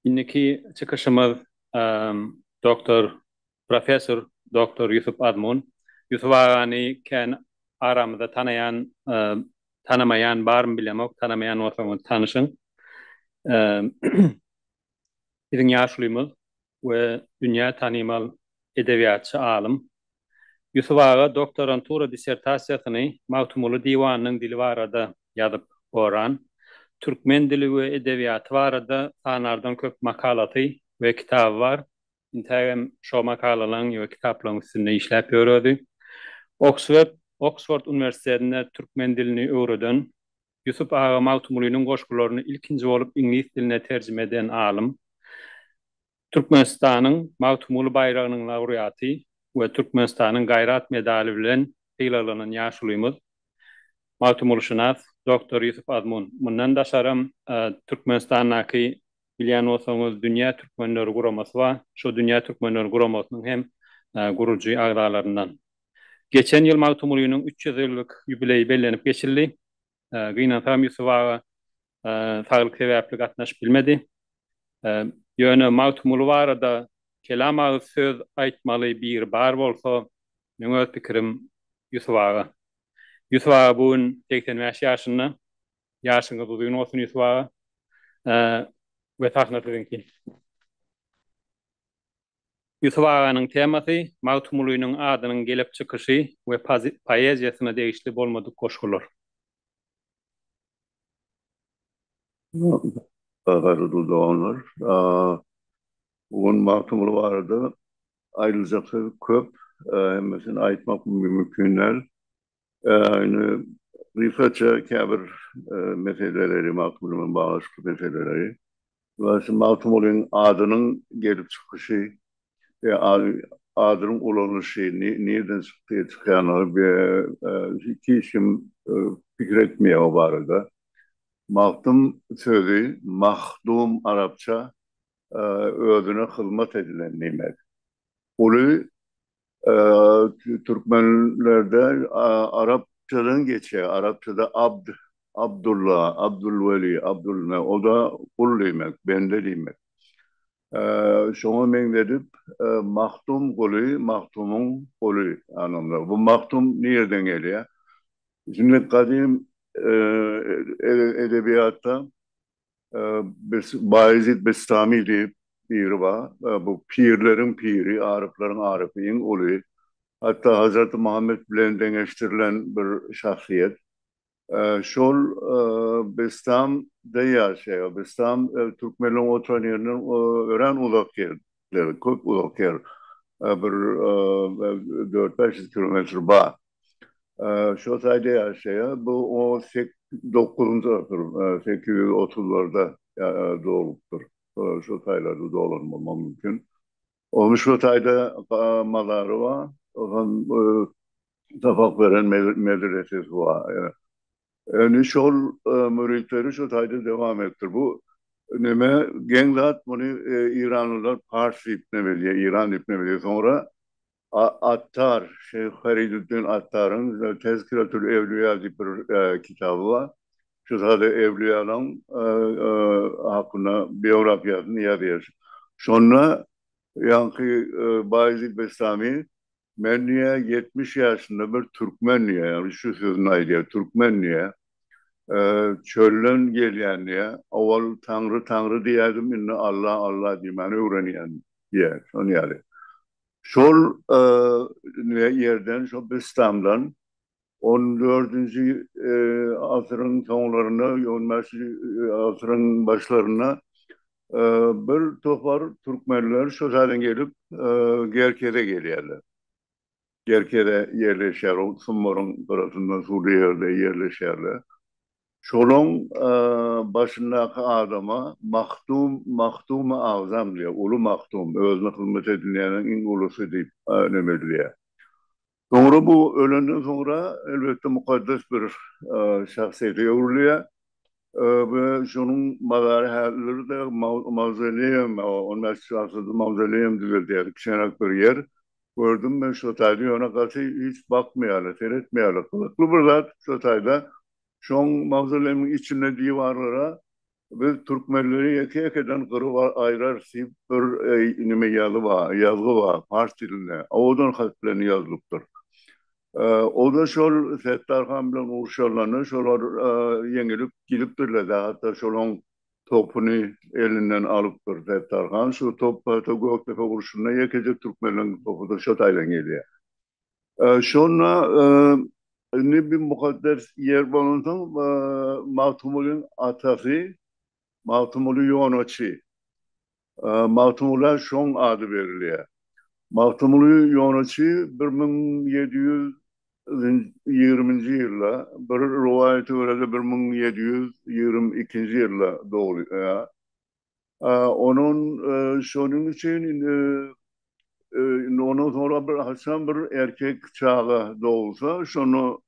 Indiki çykyşymyz doktor, professor doktor Ýusup Azmun. Ýusup agany kän aramyzda tanaýan, tanamaýan barmy bilemok, tanamaýan bolsaňyz tanyşyň. Biziň ýaşulymyz, we dünýä tanymal edebiýatçy alym. Ýusup aga doktorantura dissertasiýasyny Magtymguly diwanynyň dili barada ýazyp goran. Türkmen dili we edebiýaty barada sanardan köp makalasy we kitaby bar. Intägem şo makalalaryň we kitaplaryň üstünde işläp ýör özi. Oksford Oksford uniwersitetinde türkmen dilini öwreden Ýusup aga Magtymgulynyň goşgularyny ilkinji bolup iňlis diline terjime eden alym, Türkmenistanyň Magtymguly baýragynyň laurýaty we Türkmenistanyň Gaýrat medaly bilen sylaglanan ýaşulymyz, magtymgulyşynas doktor Ýusup Azmun. Mundan daşaram, Türkmenistandaky, bilýän bolsaňyz, Dünýä türkmenleri guramasy bar. Şo Dünýä türkmenleri guramasynyň hem gurujy agzalaryndan. Geçen ýyl Magtymgulynyň üç ýüz ýyllyk ýubileýi bellenip geçildi. Gynansagam Ýusup aga saglyk sebäpli gatnaşyp bilmedi. Ýöne Magtymguly barada kelam agyz söz aýtmaly biri bar bolsa, meň öz pikirim Ýusup aga. Ýusup aga bu gün segsen bäş ýaşynda. Ýaşyňyz uzyn bolsun Ýusup aga we sahna siziňki. Ýusup aganyň temasy, Magtymgulynyň adynyň gelip çykyşy we poeziýasyna degişli bolmadyk goşgular. Gaýgyly doganlar, bu gün Magtymguly barada aýdyljak söz köp, hemmesini aýtmak mümkin däl. Indi gysgaça käbir meseleleri, Magtymguly bilen baglanyşykly meseleleri. Şu Magtymgulyň adynyň gelip çykyşy we adynyň ulanylyşy nireden çykdy, çykýandygy we hiç kim pikir etmeýär o barada. Magtym sözi mahdum arapça özüne hyzmat edilen diýmek. Uly türkmenlerde arapçadan geçýär, arapçada abd, Abdulla, Abdulweli, Abdul, o da gul diýmek, bende diýmek. Şoňa meňzedip, Magtym guly, Magtymyň guly anlamda. Bu Magtym nireden gelýär? Şunda gadym edebiýatda Baýezit Bestami diýip biri bar. Bu pirleriň piri, aryplaryň arypy, iň uly. Hatda Hazreti Muhammet bilen deňeşdirilen bir şahsyýet. Şol Bestamda ýaşaýar. Bestam türkmenleriň oturan ýerinden örän uzak ýerde. ýerler köp uzak ýer. Bir dört-bäş ýüz kilometr bar. Şo taýda ýaşaýar. Bu on sek dokuzynjy asyr, sekiz ýüz otuzlarda doglupdyr. Şo taýlarda doglan bolmak mümkin. Onuň şo taýda mazary bar. Sapak beren medresesi bar. Indi şol müritleri şu taýda dowam etdir. Bu neme geň zat muny iranlylar pars diýip ne bilýär, iran diýip ne bilýär. Soňra Attar, şeýh Feriduddin Attaryň Tezkiratül Ewliýa diýip bir kitaby bar. Şu sada ewliýalaň hakynda biografiýasyny ýazýar. Şonda ýaňky Baýezid Bestami Men diýä ýetmiş ýaşynda bir türkmen diýä, ýagny şu sözüni aýdýar, türkmen diýä, çölden gelýän diýä, owal Taňry Taňry diýädim, indi Alla Alla diýmäni öwrenýän diýä, şon ýaly. Şol ýerden şo Bistamdan On dördünji asyryň soňlarynda, on bäşinji asyryň başlarynda bir topar türkmenler şo taýdan gelip Gerkeze gelýärler. Gerkeze ýerleşýär, ol Sumbaryň gyrasynda suwly ýerde ýerleşýärler. Şolaň başyndaky adama Mahdum, Mahdumy agzam diýýär, uly Mahdum, özüne hyzmat edilýäniň iň ulusy diýip neme edilýär. Soňra bu ölenden soňra elbetde mukaddes bir şahsyýete öwrülýär we şonuň mazary häzirlerde mawzoleýum, ony Mesjidi Aksada mawzoleýum düzeldýärler, kiçeňräk bir ýer. Gördüm men şo taýda, ýöne gaty hiç bakmaýarlar, seretmeýärler. Gyzykly bir zat şo taýda, şoň mawzoleýumyň içinde diwarlara Biz türkmenleri ýeke-ýekeden gyryp aýrarys diýip bir neme ýaly bar, ýazgy bar pars dilinde. Owadan hat bilen ýazylypdyr. O-da şol Setdar han bilen urşanlarynda şolar ýeňilip gidipdirler-de, hatda şolaň topuny elinden alypdyr Setdar han. Şu top hatda Gökdepe urşunda ýekeje türkmenleriň topydyr, şo taýdan gelýär. Şonda indi bir mukaddes ýer bolansoň, Magtymgulyň atasy Magtymguly Ýonaçy. Magtymgula şoň ady berilýär. Magtymguly Ýonaçy bir müň ýedi ýüz ýigriminji ýylda, bir rowaýata görä-de bir müň ýedi ýüz ýigrimi ikinji ýylda dogulýar. Onuň şonuň üçin indi ondan soňra bir haçan bir erkek çaga dogulsa, şonu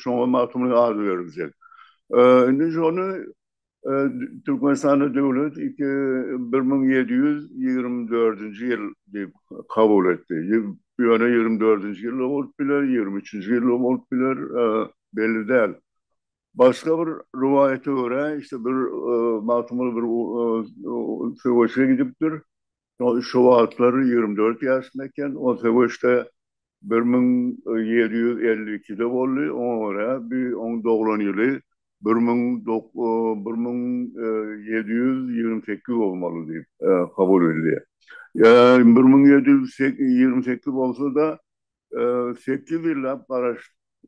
şoňa Magtymguly ady beriljek. Indi şony Türkmenistanda döwlet bir müň ýedi ýüz ýigrimi dördünji ýyl diýip kabul etdi. Ýöne ýigrimi dördünji ýyl-da bolup biler, ýigrimi üçünji ýyl-da bolup biler, belli däl. Başga bir rowaýata görä, işte bir Magtymguly bir söweşe gidipdir. Şo wagtlar ýigrimi dört ýaşynda eken. Ol söweş-de bir müň ýedi ýüz elli ikide boldy. Oňa görä, bi oň doglan ýyly bir müň bir müň ýedi ýüz ýigrimi sekiz bolmaly diýip habar edilýär. Ýa bir müň ýedi ýüz ýigrimi sekiz bolsa-da, Sekiz ýyllap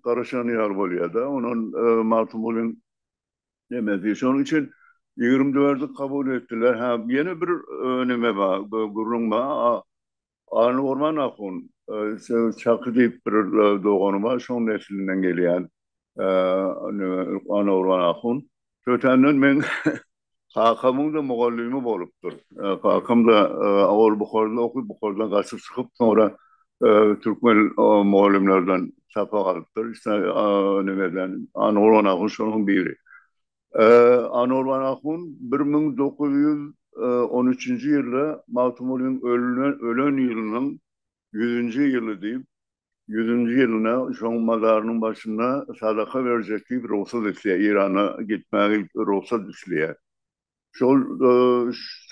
garaşan ýaly bolýar-da. Ondan Magtymgulyň nemesi. Şonuň üçin ýigrimi dördi kabul etdiler. Hä, ýene bir neme bar, gürrüň bar. Alynorman ahun, Çaky diýip bir dogany bar, şoň neslinden gelýän Alynorman ahun. Tötänden meň kakamyň-da mugallymy bolupdyr. Kakam-da ol Buharada okup, Buharadan gaçyp çykyp, soňra türkmen mugallymlardan sapak alypdyr. Ise nimeden, Anowran ahun şolaryň biri. Anowran ahun bir müň dokuz ýüz on üçünji ýylda Magtymgulynyň ölen ýylynyň ýüzünji ýyly diýip, ýüzünji ýylynda şoň mazarynyň başynda sadaka berjek diýip rugsat isleýär, Irana gitmäge rugsat isleýär. Şol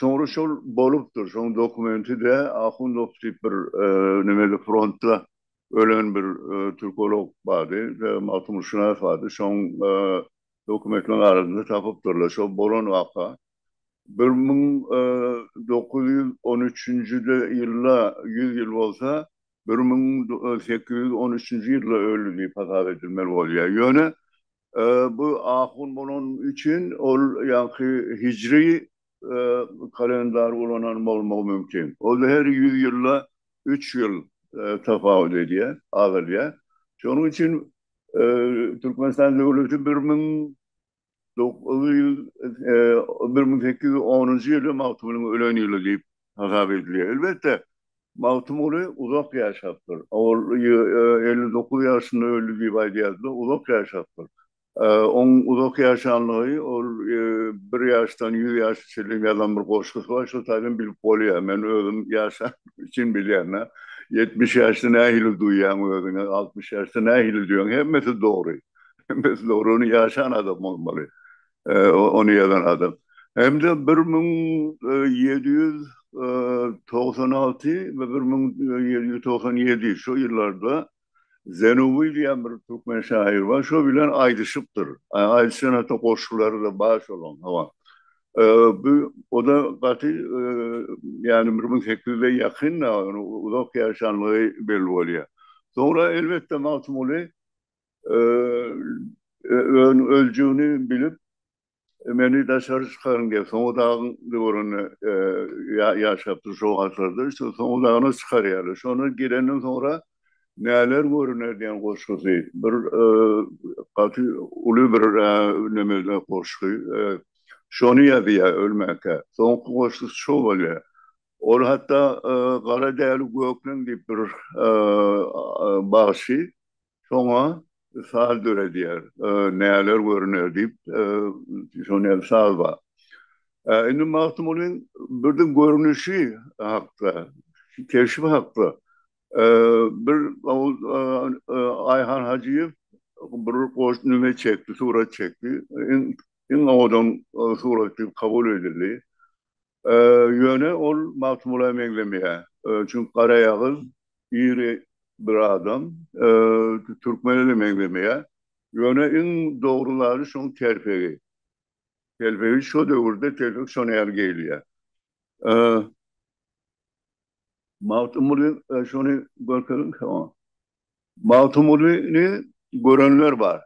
soňra şol bolupdyr, şoň dokumenti-de Ahundow diýip bir nimede frontda ölen bir türkolog bardy, magtymgulyşynas bardy, şoň dokumentleriň arasynda tapypdyrlar, şol bolan waka. bir müň dokuz ýüz on üçünji ýylda ýüz ýyl bolsa, bir müň sekiz ýüz on üçünji ýylda öldi diýip hasap edilmeli bolýar. Ýöne bu ahun bolany üçin ol ýaňky hijri kalendary ulanan bolmagy mümkin. Ol-da her ýüz ýylda üç ýyl tapawut edýär, azalýar. Şonuň üçin Türkmenistan döwleti bir müň bir müň sekiz ýüz onunjy ýyly Magtymgulyň ölen ýyly diýip hasap edilýär. Elbetde, Magtymguly uzak ýaşapdyr. Ol elli dokuz ýaşynda öldi diýip aýdýardylar, uzak ýaşapdyr. Oň uzak ýaşanlygy ol bir ýaşdan ýüz ýaşa çenli ýazan bir goşgusy bar, şol taýdan bilip bolýar. Men özüm ýaşanym üçin bilýän-ä. Ýetmiş ýaşda nähili duýýaň özüňi, altmyş ýaşda nähili duýýaň, hemmesi dogry. Biz dogruny ýaşan adam bolmaly. Ony ýazan adam. Hem-de bir müň ýedi ýüz togsan alty we bir müň ýedi ýüz togsan ýedi şo ýyllarda Zenubi diýen bir türkmen şaýyr bar, şo bilen aýdyşypdyr. Aýdyşan hatda goşgulary-da bar şolaň, hawa. Bu o-da gaty, ýagny bir müň sekiz ýüze ýakyn-da, uzak ýaşanlygy belli bolýar. Soňra elbetde Magtymguly öljegini bilip, meni daşary çykaryň diýip, Soňy dagyň döwründe ýaşapdyr şo wagtlarda. Şo Soňy dagyna çykarýarlar. Şona girenden soňra näler görüner diýen goşgusy. Bir gaty uly bir nemede goşgy. Şony ýazýar ölmänkä. Soňky goşgusy şo bolýar. Ol hatda Gara däli gökleň diýip bir bagşy şoňa saz döredýär. Näler görüner diýip şonda ýaly saz bar. Indi Magtymgulyň birden görnüşi hakda, keşbi hakda bir Aýhan Hajyýew bir goş nüme çekdi, surat çekdi. Iň owadan surat diýip kabul edildi. Ýöne ol Magtymgula meňzemeýär. Çünki garaýagyz, iri bir adam. Türkmene-de meňzemeýär. Ýöne iň dogry zady şoň telpegi. Telpegi şo döwürde telpek şona ýaly geýilýär. Magtymguly şony görkeziň. Magtymgulyny görenler bar.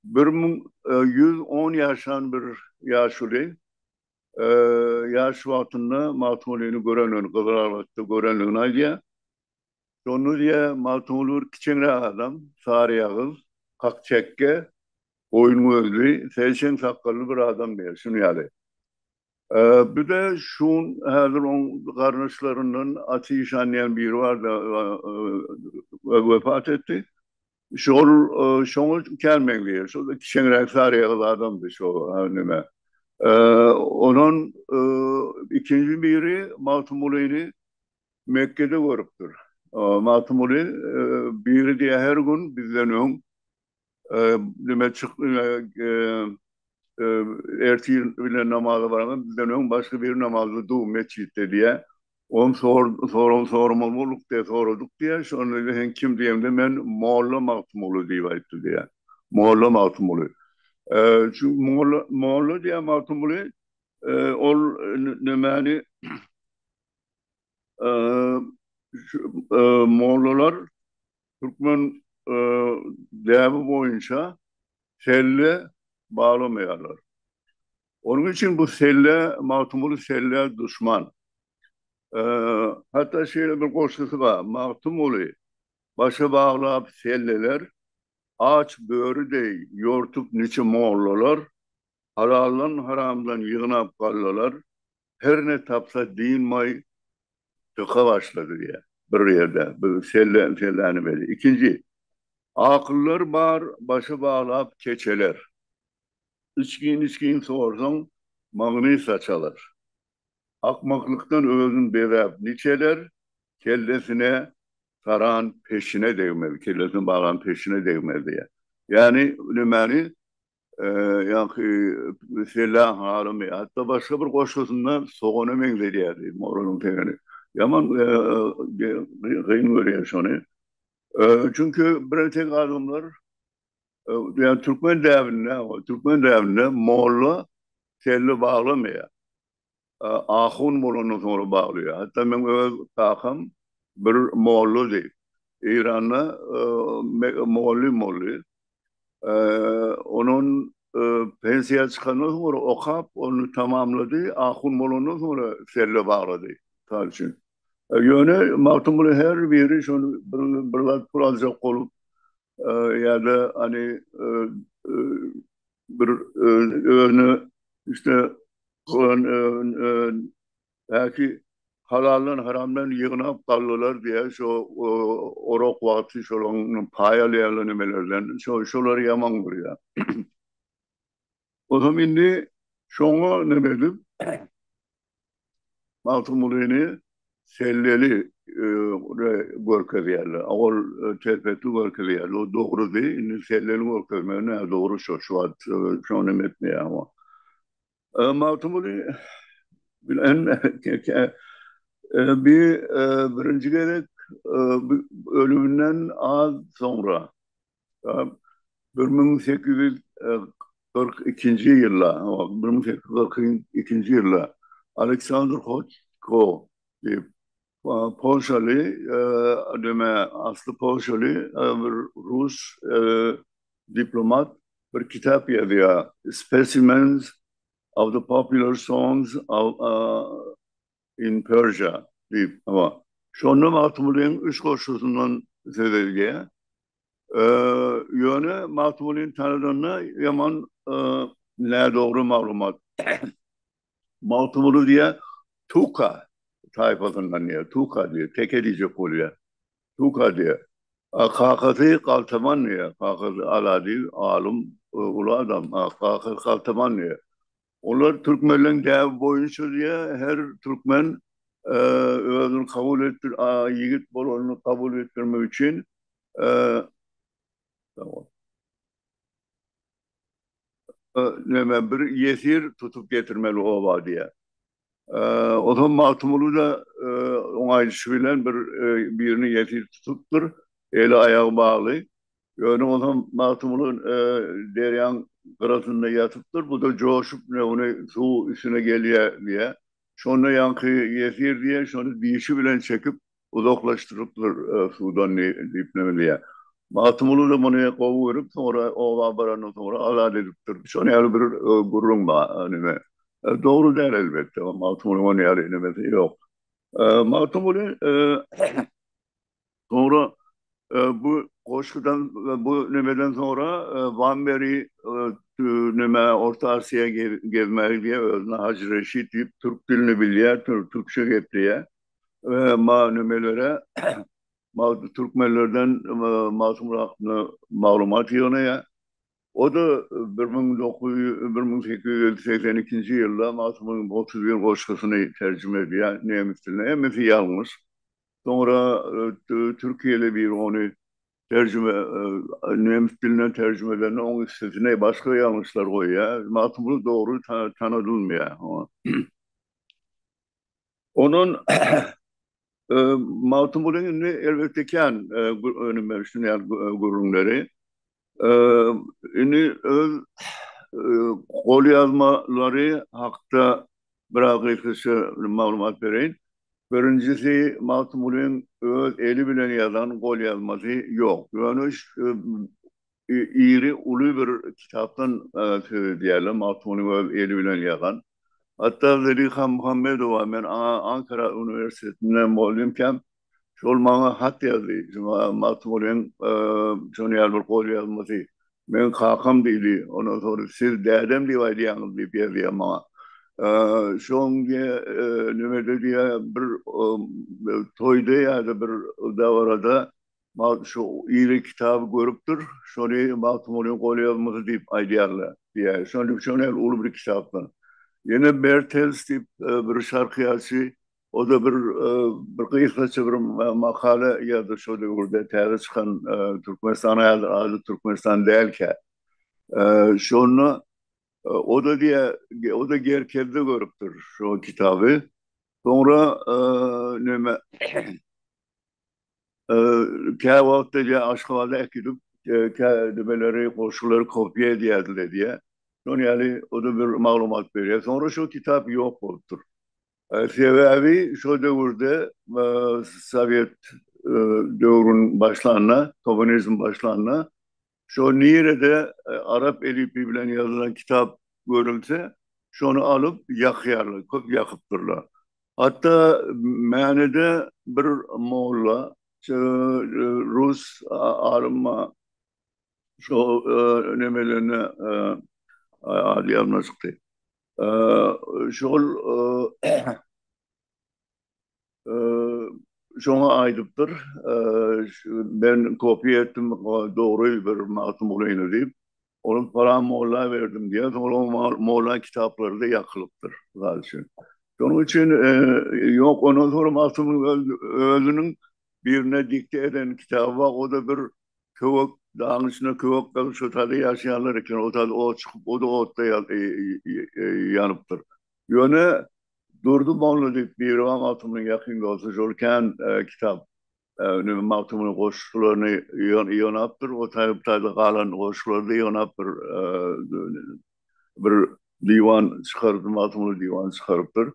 Bir müň ýüz on ýaşan bir ýaşuly ýaş wagtynda Magtymgulyny görendigini, Gyzylarbatda görendigini aýdýar. Şonda diýýär, Magtymguly bir kiçeňräk adam, saryýagyz, ak çekge, goýun gözli, seýşeň sakgally bir adam diýýär, şuny ýaly. Bir-de şu gün häzir oň garyndaşlaryndan Aty işan diýen biri bardy, wefat etdi. Şol şoňa kän meňzeýär. Şol kiçeňräk saryýagyz adamdy şo neme. Onuň ikinji biri Magtymgulyny Mekgede görüpdir. Magtymguly biri diýýär her gün bizden öň neme çyk ertir bilen namaza baranda bizden öň başga biri namazda dur metjitde diýýär. Olam sor, sorag soramaly bolduk diýýär, soradyk diýýär, şonda diýýär, sen kim diýemde men Molla Magtymguly diýip aýtdy diýýär. Molla Magtymguly. E, şu Molla, Molla diýýär Magtymguly, e, ol nämäni e, şu, e, mollalar türkmen e, däbi boýunça selle baglamaýarlar. Onuň üçin bu selle, Magtymguly selle duşman. Hatda şeýle bir goşgusy bar, Magtymguly başa baglap selleler, Aç böri deý ýortup niçe mollalar, Halaldan haramdan ýygnap gallalar, Her ne tapsa dynmay dyka başlady diýýär. Bir ýerde bu selle, selläni belli. Ikinji, Akyllar bar başa baglap keçeler. Içgin-içgin sorsaň, magny saçalar. Akmaklykdan özün bezäp niçeler, kellesine saran peşine degmez, kellesine bagan peşine degmez diýýär. Ýagny nämäni, ýaňky Sella halymy, hatda başga bir goşgusynda sogana meňzedýär Moralyň tegeni. Ýaman kyn görýär şony. Çünki bir entek adamlar Yani Türkmen däbinde, Türkmen däbinde molla telli bağlamaya. Ahun bolandan sonra bağlıyor. Hatta men öz kakam bir molla değil. İran'da molli molli. Onun pensiya çıkandan sonra okap onu tamamladı. Ahun bolandan sonra selle bağladı. Sal için. Yöne Magtymguly her biri şunu bir, bir zat pul alacak olup ýa-da hani bir özüne işte goýan belki halaldan haramdan ýygnap galdylar diýýär şo orak wagty şolaň paý alýarlar nimelerden şolary ýaman görýär. Ozam indi şoňa neme edip, Magtymgulyny selleli görkezýärler. Ol telpekli görkezýärler. O dogrudy. Indi selleli görkezmek nädogry şo şu wagt. Şoňa neme etmeýäň. Magtymguly bilen bi birinji gezek ölüminden az soňra Bir müň sekiz ýüz kyrk ikinji ýylda, bir müň sekiz ýüz kyrk ikinji ýylda Aleksandr Hoçko diýip, polşaly, deme, asly polşaly bir rus diplomat bir kitap ýazýar, Specimens of the popular songs of in Persia diýip, hawa, şonda Magtymgulynyň üç goşgusyndan söz edilýär. Ýöne Magtymgulyny tanadanda ýaman nädogry maglumat. Magtymguly diýýär, Tuka taýpasyndan diýýär, Tuka diýýär, teke diýjek bolýar. Tuka diýýär. Kakasy galtaman diýýär, kakasy Ala diýip, alym, uly adam, kakasy galtaman diýýär. Olar türkmenleň däbi boýunça diýe her türkmen özüni kabul etdir a ýigit bolanyny kabul etdirmek üçin neme bir ýesir tutup getirmeli oba diýe. Onsoň Magtymguly-da oň aýdyşy bilen bir birini ýesir tutupdyr, eli-aýagy bagly. Ýöne onsoň Magtymguly derýaň gyrasynda ýatypdyr, bu-da joşup, mine ony suw üstüne gelýär diýýär. Şonda ýaňky ýesir diýýär, şony dişi bilen çekip, uzaklaşdyrypdyr suwdan diýip neme diýýär. Magtymguly-da muny gowy görüp, soňra oba barandan soňra azat edipdir. Şonuň ýaly bir gürrüň bar, neme. Dogry däl elbetde, Magtymgulyň ony ýaly nemesi ýok. Magtymguly soňra bu goşgudan, bu nemeden soňra Wamberi neme Orta Asiýa gezmäge gidýär, özüne Hajy Reşit diýip türk dilini bilýär, türkçe gepleýär. e, ma nümelere ma türkmenlerden e, Masum Rahmana maglumat ýygnaýar. O da 1882-nji ýylda Masumyň 31 goşgusyny terjime edýär nemes diline. Hemmesi ýalňyş. Soňra e, türkiýeli bir ony terjime e, nemes dilinden terjime edende oň üstüne başga ýalňyşlar goýýar. Magtymguly dogry tanadylmaýar. Ondan Magtymguly indi elbetde kän önüme düşünýän gürrüňleri. Indi öz golýazmalary hakda biraz gysgaça maglumat bereýin. Birinjisi Magtymgulyň öz eli bilen ýazan golýazmasy ýok. Ýöne iri uly bir kitapdan söz edýärler, Magtymgulyň öz eli bilen ýazan. Hatda Zeliha Muhammedowa, men aňa Ankara uniwersitetinde mugallymkam, şol maňa hat ýazdy, şuňa Magtymgulyň şonuň ýaly bir golýazmasy, meň kakam diýdi, ondan soňra siz dädem diýip aýdýaňyz diýip ýazýar maňa. Şoň nimede diýýär, bir toýda ýa-da bir dabarada Magtym şu iri kitaby görüpdir, şony Magtymgulynyň golýazmasy diýip aýdýarlar diýýär. Şonuň üçin şony hälki uly bir kitapdan. Ýene Mertens diýip bir şarkiýaçy, o-da bir bir gysgaça bir makala ýazdy şo döwürde täze çykan Türkmenistan häzir ady Türkmenistan dälkä. Şonda o-da diýýär, o-da Gerkezde görüpdir şo kitaby. Soňra näme Kä wagtda diýýär, Aşgabada äkidip, kä nimeleri, goşgulary kopiýa edýärdiler diýýär. Şonuň ýaly, o-da bir maglumat berýär. Soňra şol kitap ýok bolupdyr. Sebäbi şol döwürde sowet döwrüniň başlanyna, komunizm başlanyna Şo nirede arap elipi bilen ýazylan kitap görülse, şony alyp ýakýarlar, köp ýakypdyrlar. Hatda Mänede bir molla şeýle rus alyma şo nemelerine ady ýadyma çykdy. Şol şoňa aýdypdyr, men kopiýa etdim, dogry bir Magtym Gulyny diýip, ony palan molla berdim diýýär, soň ol molla kitaplary-da ýakylypdyr, mysal üçin. Şonuň üçin, ýok, ondan soň Magtymyň özüniň birine dikte eden kitaby bar, o-da bir köwek, dagyň içinde köwek galyp, şo taýda ýaşaýarlar eken, o taýda ot çykyp, o-da otda ýanypdyr. Ýöne Durdy Molla diýip Biriba Magtymynyň ýakyn dosty şol kän kitap neme Magtymynyň goşgularyny ýygnapdyr, o taýda galan goşgulary-da ýygnapdyr. Bir diwan çykarypdyr, Magtymguly diwany çykarypdyr.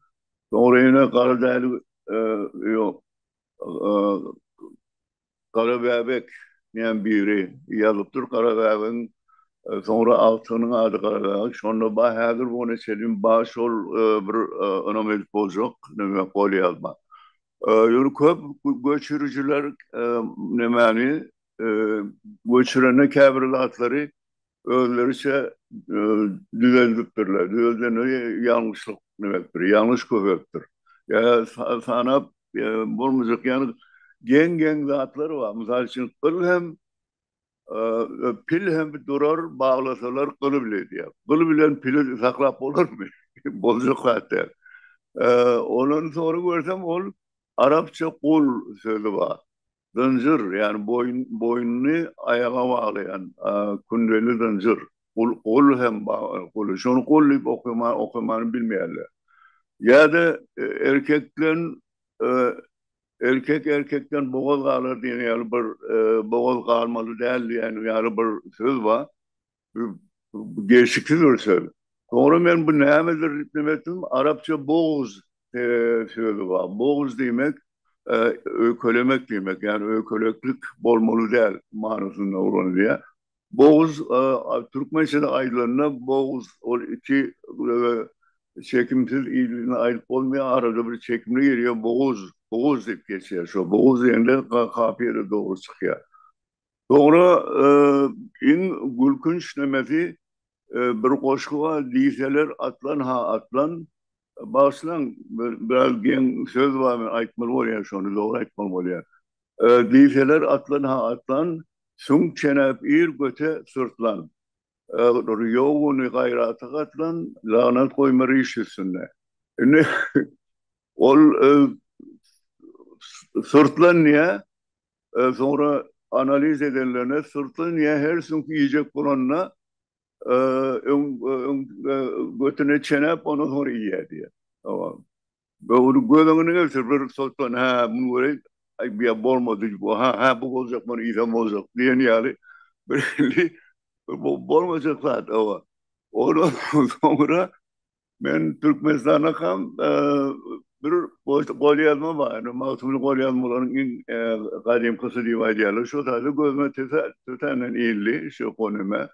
Soňra ýene Garadäli ýok, Gara bäbek diýen biri ýazypdyr. Gara bäbegiň soňra agtygynyň ady Gara bäbek. Şonda bar, häzir bu ona çenli bar şol bir ynam edip boljak näme golýazma. Ýöne köp göçürijiler nämäni göçürende käbir zatlary özleriçe düzeldipdirler. Düzeldendigi ýalňyşlyk demekdir, ýalňyş köpelipdir. Ýa-da sanap bolmajak ýaly geň-geň zatlar bar. Mysal üçin, gyl hem, pil hem durar, baglasalar gyly bile diýýär. Gyl bilen pili saklap bolarmy? Boljak zat däl. Ondan soňra görsem, ol arapça gul sözi bar. Zynjyr, ýagny boýun, boýnuny aýaga baglaýan kündeli zynjyr. Gul hem bar, gul. Şony gul diýip okaýan, okamany bilmeýärler. Ýa-da erkekden, erkek erkekden bogaz galar diýen ýaly bir, bogaz galmaly däl diýen ýaly bir söz bar. Degişiksiz bir söz. Soňra men bu nämedir diýip neme etdim, arapça bogz sözi bar. Bogz diýmek, öýkelemek diýmek, ýagny öýkeleklik bolmaly däl manysynda ulanylýar. Bogz, türkmençede aýdylanda bogz ol iki ýa-da çekimsiz ýylyny aýdyp bolmaýar, arada bir çekimli gelýär, boguz, boguz diýip geçýär. Şo boguz diýende kafiýa-da dogry çykýar. Soňra iň gülkünç nemesi bir goşgy bar diýseler atlan ha atlan bagyşlaň biraz geň söz bar men aýtmaly bolýar şony dogry aýtmaly bolýar diýseler atlan ha atlan süňk çenäp ir göte syrtlan ýok uny gaýrata gatlan lagnat goýma riş üstünde indi ol syrtlan diýýär Soňra analiz edenlerinde syrtly niýe her süňki iýjek bolanda öň öň götüne çenäp ondan soňra iýýär diýýär. Hawa. Böwrüň göz öňüne getir bir syrtlan hä muny göreý aý bu ýa bolmady bu ha hä bu boljak muny iýsem boljak diýen ýaly bir hili bolmajak zat hawa. Ondan soňra Men Türkmenistana kam bir goýsa golýazma bar. Ýöne Magtymly golýazmalaryň iň gadymkysy diýip aýdýarlar. Şo taýda gözüme tötänden ildi şu gonime.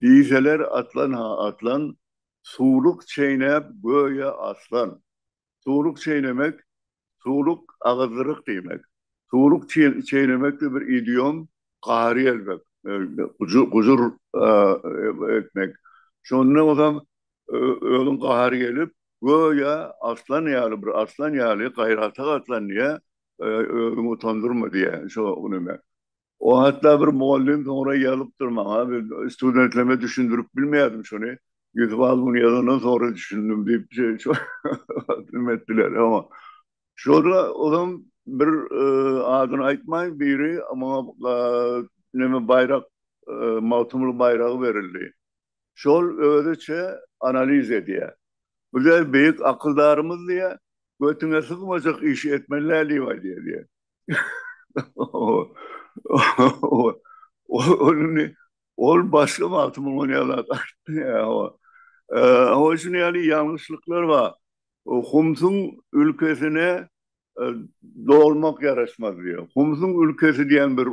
Diýseler atlan-ha atlan, suwluk çeýnäp göýä aslan. Suwluk çeýnemek, suwluk, agyzdyryk diýmek. Suwluk çeýnemek-de bir idiom, gary elmek, gujur etmek. Şonda onam özüň gary gelip, göýä arslan ýaly, bir arslan ýaly gaýrata gatlan diýýä, özüňi utandyrma diýýä şo neme. O hatda bir mugallym soňra ýazypdyr maňa, men studentlerime düşündirip bilmeýärdim şony. Ýusup aga muny ýazandan soňra düşündim diýip, şeýdip etdiler. Şurada ozam bir adyny aýtmaýyn, biri maňa neme baýrak, Magtymguly baýragy berildi. Şol özüçe analiz edýär. Bu diýýär, beýik akyldarymyz diýýär, götüňe sygmajak işi etmeli-dä diýip aýdýar diýýär. Ol ol başga wagty muňa näme gaýtdy? Hawa, şunuň ýaly ýalňyşlyklar bar. Humsuň ülkesine dolmak ýaraşmaz diýýär. Humsuň ülkesi diýen bir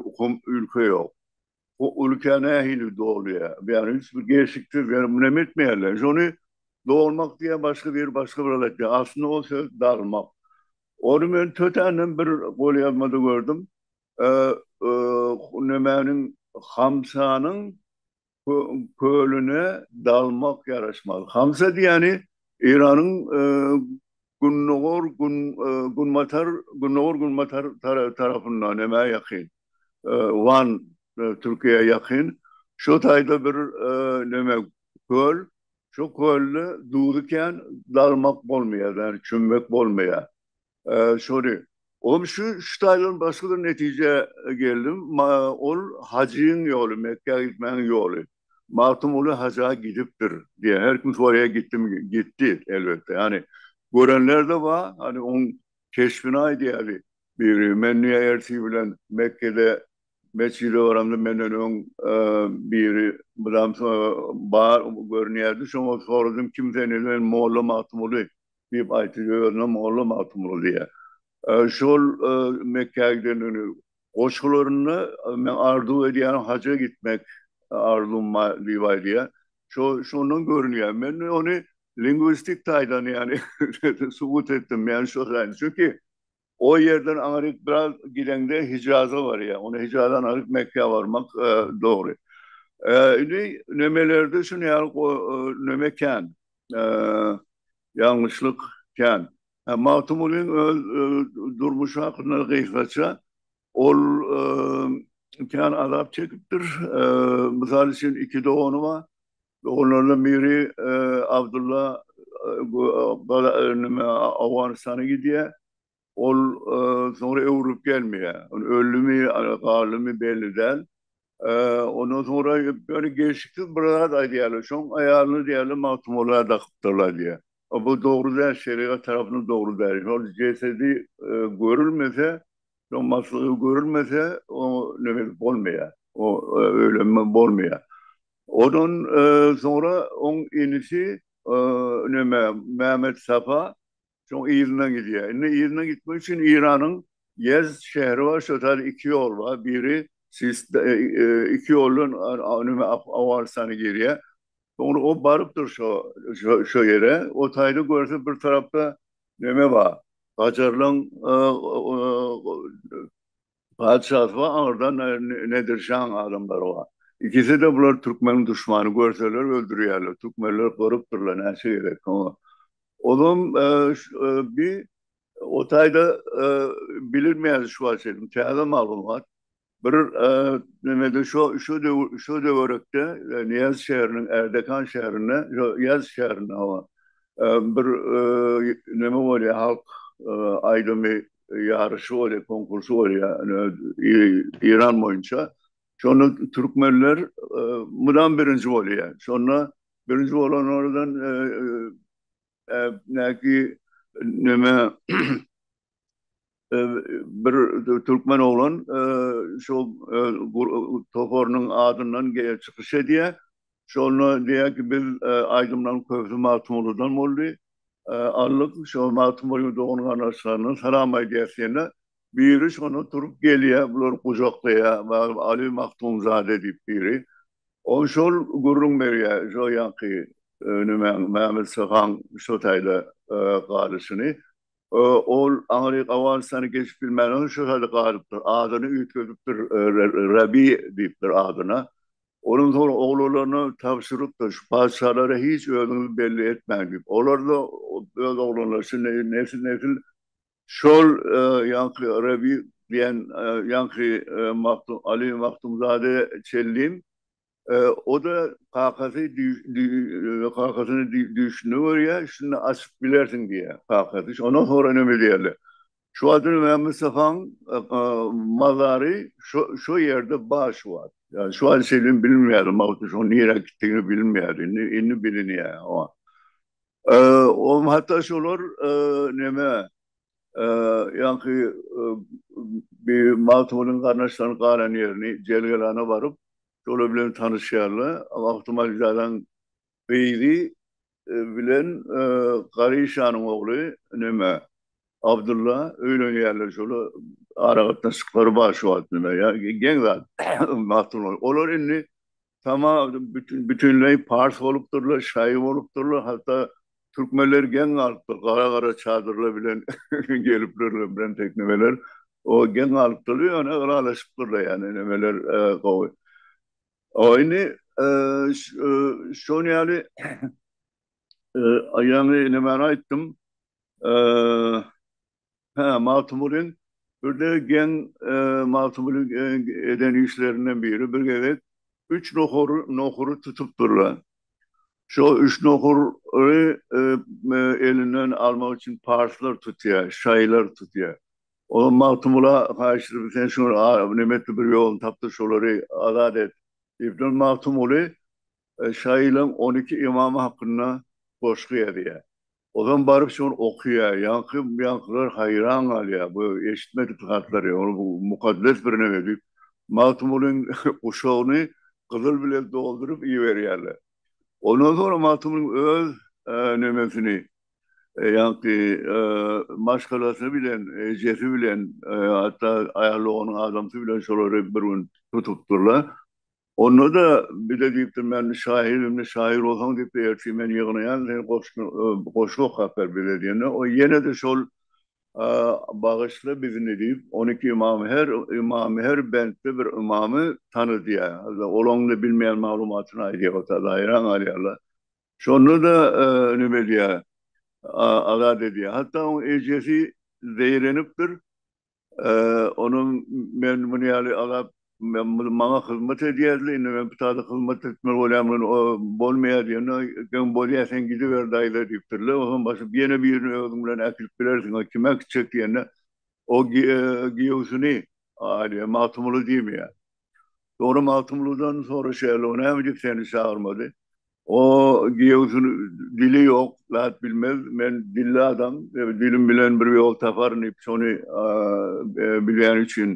ülke ýok. O ülke nähili dolýar? Ýagny hiç bir geçiksiz ýa munem etmeýärler. Şony dolmak diýen başga bir başga bir zat aýtýar. Aslynda o söz dalmak. Ony men tötänden bir golýazmada gördüm. Nemäniň hamsanyň kölüne dalmak ýaraşmaz. Hamsa diýýäni Eýranyň gündogar günbatar gündogar günbatar tarapynda nämä ýakyn. Wan Türkiýä ýakyn. Şu taýda bir neme köl. Şu kölde duzy kän dalmak bolmaýar, ýagny çümmek bolmaýar. Şony Oňa şu şu taýdan başga bir netijä geldim. Ol hajyň ýoly, Mekgä gitmegiň ýoly. Magtymguly haja gidipdir diýýär. Her kim soraýar gitdimi? Gitdi elbetde. Ýagny görenler-de bar. Hany oň Keşbini aýdýardy. Biri, men dünýä ertir bilen Mekgede mesjide baramda, menden öň biri mydam bar görünýärdi. Şoňa soradym, kim sen diýdim, men molla Magtymguly diýip aýtdy. Özüne molla Magtymguly diýýär. Şol Mekgä gidenini Goşgularynda men arzuw edýärin haja gitmek arzuwym bar diýip aýdýar. Şo şondan görünýär. Men ony lingwistik taýdan ýagny subut etdim. Ýagny şo taýdan. Çünki o ýerden aňryk biraz gideňde Hijaza barýar. Onda Hijaza aňryk Mekgä barmak dogry. Indi nemelerde şuny ýaly neme kän. Ýalňyşlyk kän. Magtymgulyň öz durmuşy hakynda gysgaça, Ol kän azap çekipdir. Mysal üçin, iki dogany bar. Doganlaryndan biri Abdylla Owganystana gidýär. Ol soňra öwrülip gelmeýär. Öldümi, galdymy belli däl. Ondan soňra ýöne gelşiksiz bir zat aýdýarlar. Şoň aýalyna diýýärler Magtymgula dakypdyrlar diýýär. Bu dogry däl, şerigat tarapyndan dogry däl. Şol jesedi görülmese, şoň maslygy görülmese, oňa neme edip bolmaýar. O öýlenme bolmaýar. Ondan soňra oň inisi neme Mämmet Sapa Soň yzyna gidýär. Indi yzyna gitmek üçin Iranyň Ýezd şäheri bar, şo tar iki ýol bar. Biri Sist iki ýoldan nime Afganystana girýär. Soňra o barypdyr şo şo ýere. O taýda görse bir tarapda neme bar, gajarlaň Patyşasy we Agyrdan Nedir şaň adamlary bar. Ikisi-de bular türkmeniň duşmany, görseler öldürýärler, türkmenler gorupdyrlar, näçe gerek oňa. Ozam bi o taýda bilinmeýärdi şu wagtça çenli, täze maglumat. Bir nemede şo, şo döwür, şo döwürekde Niýaz şäheriniň, Erdekan şäherinde, ýo, Ýaz şäherinde, hawa, bir neme bolýar, halk aýdymy ýaryşy bolýar, konkursy bolýar Eýran boýunça. Şonda türkmenler mydam birinji bolýar. Şonda birinji bolanlardan näki neme bir türkmen oglan şol toparynyň adyndan çykyş edýär. Şonda diýýär ki, biz aýdymlaryň köpüsi Magtymgulydan boldy. Aldyk, şo Magtymgulynyň dogan-garyndaşlaryna salam aýdýarys diýende, biri şonda turup gelýär, bulary gujaklaýar, barybir Aly Magtymzada diýip biri. Ol şol gürrüň berýär, şo ýanky nimäň, Mämmet Sohaň şo taýda galyşyny. Ol aňry gawalyşlary geçip bilmänsoň şu hali galypdyr. Adyny üýtgedipdir, Rabi diýipdir adyna. Onuň soň oglalaryna tabşyrypdyr, şu patyşalara hiç özüňizi belli etmäň diýip. Olar-da öz oglanlaryna şindi nesil-nesil şol ýaňky Rabi diýen ýaňky Magtym, Aly Magtymzade Çellim O-da kakasy kakasyna düýşünde görýär, şunda açyp bilersiň diýýär kakasy. Şondan soňra näme diýerler? Şu wagt Mämmüstafanyň mazary şo-şo ýerde bar şu wagt. Ýa şu wagt şeýle bilinmeýär, Magtymguly şoň nirä gitdigini bilinmeýär. Indi, indi bilinýär. Oňa hatda şolar näme, ýaňky bi Magtymgulynyň garyndaşlarynyň galan ýerini Jelgelana baryp, şolar bilen tanyşýarlar. Magtymalizadan gyzy bilen Garyşanyň ogly neme, Abdylla öýlenýärler. Şolar aragatnaşyklary bar şu wagt neme, ýa geň zat Magtymguly. Olar indi Tama bütin bütinleý pars bolupdyrlar, şaý bolupdyrlar, hatda türkmenler geň galypdyr, gara gara çadyrlar bilen gelipler bilen teknemeler, o geň galypdyr, ýöne ylalaşypdyrlar ýani nemeler gowy. O indi şon ýaly ýaňy nemäni aýtdym, Hä, Magtymgulyň birde geň Magtymguly eden işlerinden biri bir gezek üç nohur nohury tutupdyrlar. Şo üç nohury elinden almak üçin parslar tutýar, şaýylar tutýar. Olar Magtymgula haýyş edip sen şu neme etdi bir ýoluny tapdyr şolary azat et diýipdir. Magtymguly şaýylaryň on iki ymamy hakynda goşgy ýazýar. Ozan baryp şony okaýar. Ýaňky ýaňkylar haýran galýar. Bu eşitmedik zatlar ýa bu mukaddes bir neme diýip Magtymgulyň guşagyny gyzyl bilen dolduryp iberýärler. Ondan soňra Magtymgulyň öz nemesini ýaňky maşgalasy bilen ejesi bilen hatda aýal doganyň adamsy bilen şolary bir gün tutupdyrlar. Onda-da bize diýipdir, Men şaýyr, indi şaýyr bolsaň diýipdir, ertir men ýygnaýan, sen goşgy goşgy okap ber bize diýende, o ýene-de şol Bagyşla bizini diýip, on iki ymamy, her ymamy, her bentde bir ymamy tanydýar. Olaň-da bilmeýän maglumatyny aýdýar o tada, haýran galýarlar. Şonda-da neme edýär, azat edýär. Hatda oň ejesi zeýrenipdir, Onuň men muny ýaly agap, maňa hyzmat edýärdi, indi men pytada hyzmat etmeli bolýarmyn, o bolmaýar diýende, geň bolýa sen gidiber daýza diýipdirler, o hem basyp ýene birini özüň bilen äkidip bilersiň, o kim äkitjek diýende, o giýewsini, Aliýa, Magtymguly diýmeýär. Soňra Magtymgulydan soraşýarlar, o näme diýip seni çagyrmady? O giýewsini dili ýok zat bilmez men dilli adam dilim bilen bir ýol taparyn diýip şony bilýäni üçin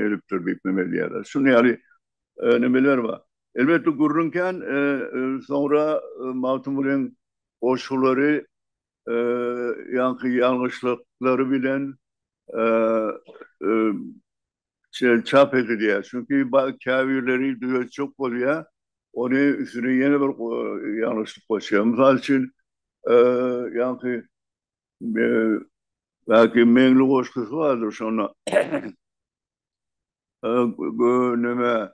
edipdir diýip neme edýärler şuny ýaly nemeler bar elbetde gürrüň kän soňra Magtymgulyň goşgulary ýaňky ýalňyşlyklary bilen Şeýle çap edilýär. Çünki käbirleri düzetjek bolýar. Ony üstüne ýene bir ýalňyşlyk goşýar. Mysal üçin, ýaňky Belki Meňli goşgusy bardyr şonda. Neme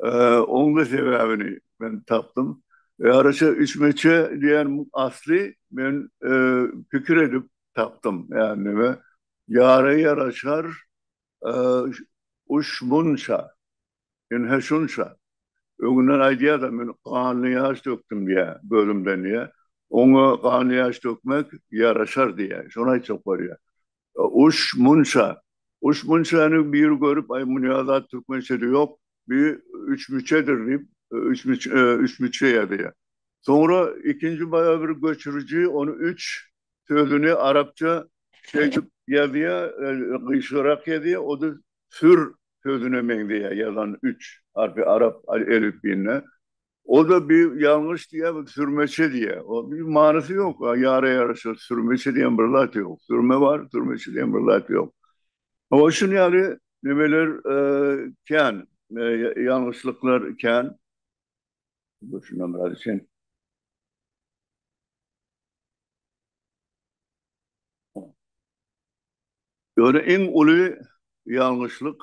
Oňda sebäbini men tapdym. Ýaryşa üç meçe diýen asly men pikir edip tapdym. Ýagny neme? Ýara ýaraşar uş munça, ynha şunça. Öňünden aýdýar-da, men ganly ýaş dökdüm diýýär, gözümden diýýär. Oňa ganly ýaş dökmek ýaraşar diýýär. Şony aýtjak bolýar. Uş munça. Uş munçany bir görüp, aý, muny ýa-da türkmençede ýok, bi üçmüçedir diýip, üçmüç, üçmüçe ýazýar. Soňra ikinji baýa bir göçüriji ony üç sözüni arapça şeýdip ýazýar, gyşyrak ýazýar, o-da sür sözüne meňzeýär ýazan üç harpy arap elipbiýinde. Oda bir ýalňyş diýýär, bir sürmeçe diýýär. O bir manysy ýok. Ýara ýaraşar, sürmeçe diýen bir zat ýok. Sürme bar, sürmeçe diýen bir zat ýok. Oňa şun ýaly nemeler kän, ýalňyşlyklar kän. Dur şundan biraz içeýin. Ýöne iň uly ýalňyşlyk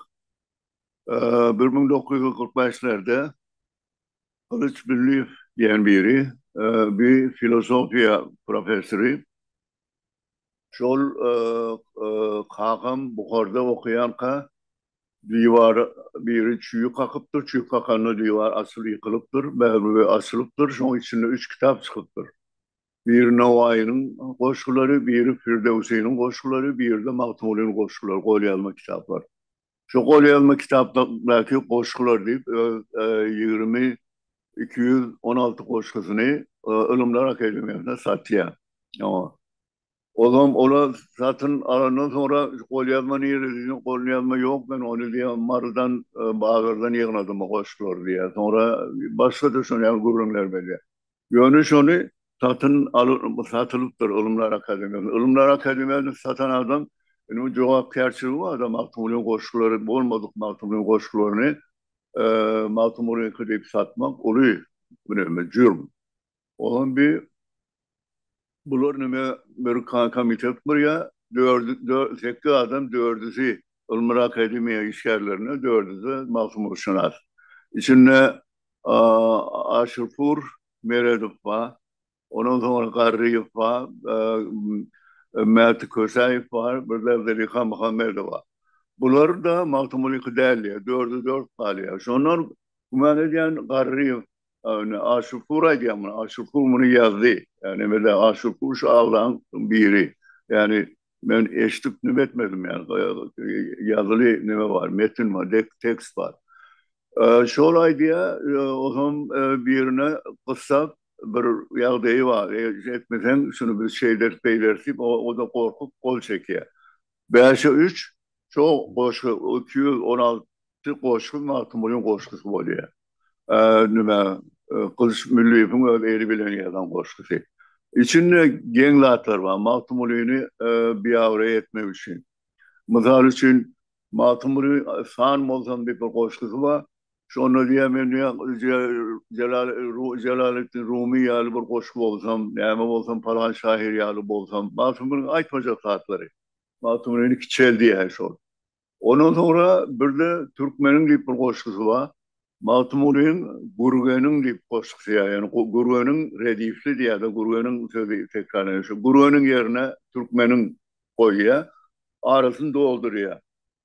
bir müň dokuz ýüz kyrk bäşlerde Gylyç Billiýew diýen biri, bi filosofiýa professory. Şol kakam Buharda okaýanka diwara biri çüýi kakypdyr, çüýk kakanda diwar açyl ýykylypdyr, Bägül we açylypdyr, şoň içinde üç kitap çykypdyr. Biri Nowaýynyň goşgulary, biri Firdöwsiniň goşgulary, biri-de Magtymgulynyň goşgulary, golýazma kitaplar. Şu golýazma kitapdaky goşgular diýip öz ýigrimi iki ýüz on alty goşgusyny Ylymlar akademiýasyna satýar. Ozam olar satyn alandan soňra golýazma nirede diýdim, golýazma ýok, men ony diýýär Marydan bazardan ýygnadym o goşgulary diýýär. Soňra başga-da şonuň ýaly gürrüňler berýär. Ýöne şony satyn alyp, satylypdyr Ylymlar akademiýasyna. Ylymlar akademiýasyny satan adam, indi bu jogapkärçiligi bar da, Magtymgulynyň goşgulary bolmadyk Magtymgulynyň goşgularyny Magtymgulynyňky diýip satmak uly, mine, jürm. Olam bir. Bular neme bir komitet gurýa, sekiz adam dördüsi ylmyra akademiýa işgärlerine dördüsi magtymgulyşynas. Içinde Aşyrpur Meredow ba, ondan soňra Garryýew ba, Mäti Kösäýew bar, birde Zeliha Muhammedowa. Bular da magtymgulyky dälýa, dörde dört galýa. Şondan güman edýän Garryýew Yani Aşurpur aýdýan muny. Aşurpur muny ýazdy. Yani mele Aşurpur şu aglaň biri. Yani men eşdip nime etmedim yani. Ýazyly nime bar, metin bar, tekst bar. Şol aýdýa, ozam birine gyssap bir ýagdaýy bar. Etmeseň şuny biz şeýleris, beýleris diýip, o-da gorkup gol çekýä. Bäşe üç, şo goşgy iki ýüz on alty Şu goşgy Magtymgulyň goşgusy bolýar. Nime, Gylyç Mülliýewiň öz eli bilen ýazan goşgusy. Içinde geň zatlar bar. Magtymgulyny biabraý etmek üçin. Mysal üçin, Magtymguly san bolsam diýip bir goşgusy bar. Şonda diýýär, men diýýär, Jelaleddin Rumy ýaly bir goşgy bolsam, näme bolsam, palan şahyr ýaly bolsam. Magtymgulyň aýtmajak zatlary. Magtymgulyny kiçeldýär şol. Ondan soňra birde Türkmeniň diýip bir goşgusy bar. Magtymgulyň Gürgeniň diýip goşgusy ýa ýani Gürgeniň redifli diýýärdi. Gürgeniň sözi tekrarlanýar. Şo Gürgeniň ýerine Türkmeniň goýýa. Arasyny doldurýa.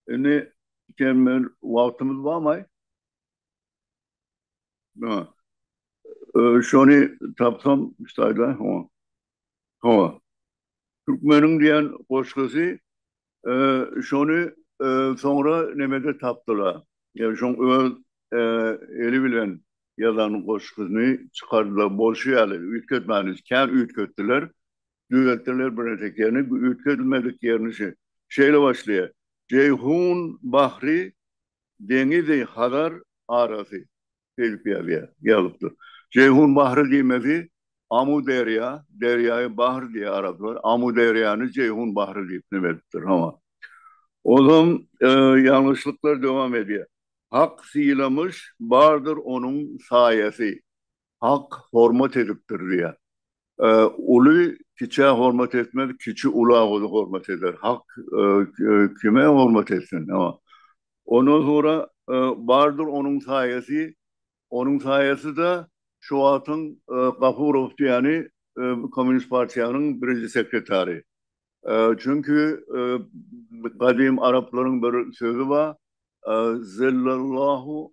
Indi sen men wagtymyz barmaý? Şony tapsam ştaýda. Hawa. Türkmeniň diýen goşgusy şony soňra nemede tapdylar. Ýa şoň öz eli bilen ýazan goşgusyny çykardylar bolşy ýaly. Üýtgetmänis kän üýtgetdiler. Düzeltdiler birnäçe ýerini. Üýtgedilmedik ýerini şe, şeýle başlaýar. Jeýhun bahri, deňizi Hazar arasy. Şeýdip ýazýar, ýazypdyr. Jeýhun bahry diýmesi Amu derýa, derýaýy bahr diýýär araplar, Amu derýany Jeýhun bahry diýip neme edipdir, hawa. Ozam ýalňyşlyklar dowam edýär. Hak sylamyş, bardyr onuň saýasy. Hak hormat edipdir diýýär. Uly kiçä hormat etmez, kiçi ula uly hormat eder. Hak kime hormat etsin? Ondan soňra bardyr onuň saýasy, onuň saýasy-da şu wagtyň Gafurow diýýäni Kommunist partiýanyň birinji sekretary. Çünki gadym araplaryň bir sözi bar, Zellallahu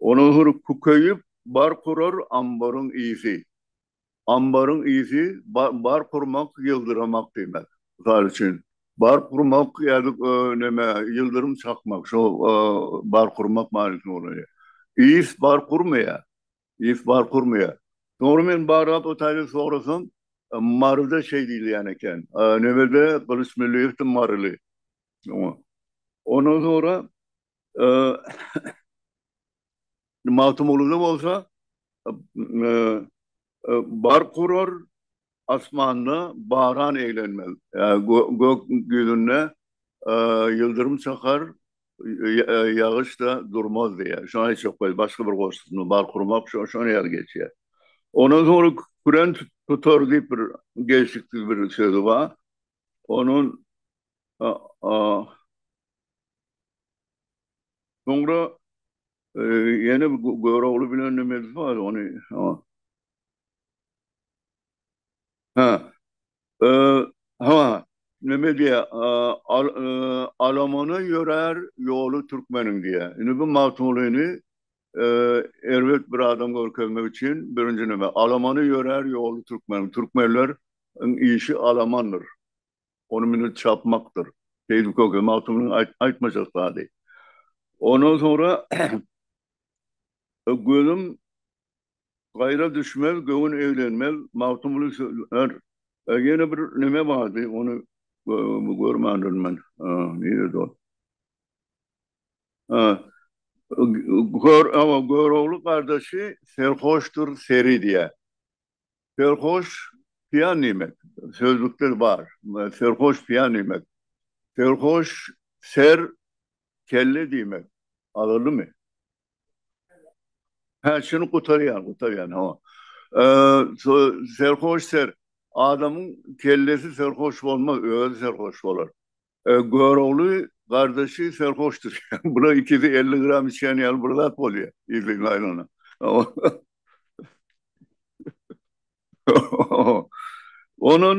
Olahyr kükeýip bar kurar ambaryň ysy. Ambaryň ysy bar kurmak ýyldyramak diýmek. Mysal üçin, bar kurmak ýazyk neme ýyldyrym çakmak şo bar kurmak manysy bolýar. Ys bar kurmaýar. Ys bar kurmaýar. Soňra men barlap otaýda sorasam, Maryda şeý diýilýän eken. Nebede Gylyç Mülliýewdi maryly. Ondan soňra Magtymgulyda bolsa Bark urar asmanda baran eglenmez. Gök ýüzünde ýyldyrym çakar, ýagyş-da durmaz diýýär. Şony aýtjak bolýar. Başga bir goşgusynda bark urmak şo-şonuň ýaly geçýär. Ondan soňra küren tutar diýip bir gelşiksiz bir sözi bar. Onuň Soňra ýene bir Görogly bilen nimesi bar ony. Ha. Ha, neme diýýär? Alamana ýörär ýoly türkmeniň diýýär. Indi bu Magtymgulyny erbet bir adam görkezmek üçin birinji neme? Alamana ýörär ýoly türkmeniň. Türkmenleriň işi alamandyr. ony münüp çapmakdyr. Seýdi köke Magtymynyň aýtmajak zady. Ondan soňra Gözüm gaýra düşmez, göwün eglenmez, Magtymguly söýer. Ýene bir näme bardy, ony görmändirin men. Nirede ol? Görogly gardaşy serhoşdyr, seri diýýär. Serhoş piýan diýmek. Sözlükde bar. Serhoş piýan diýmek. Serhoş ser kelle diýmek. Agyrlymy? Hä, şuny gutarýan, gutarýan, hawa. Serhoş ser. Adamyň kellesi serhoş bolmaz, özi serhoş bolar. Görogly gardaşy serhoşdyr. Bular ikisi elli gram içýän ýaly bir zat bolýar. Yzly aýlana. Onuň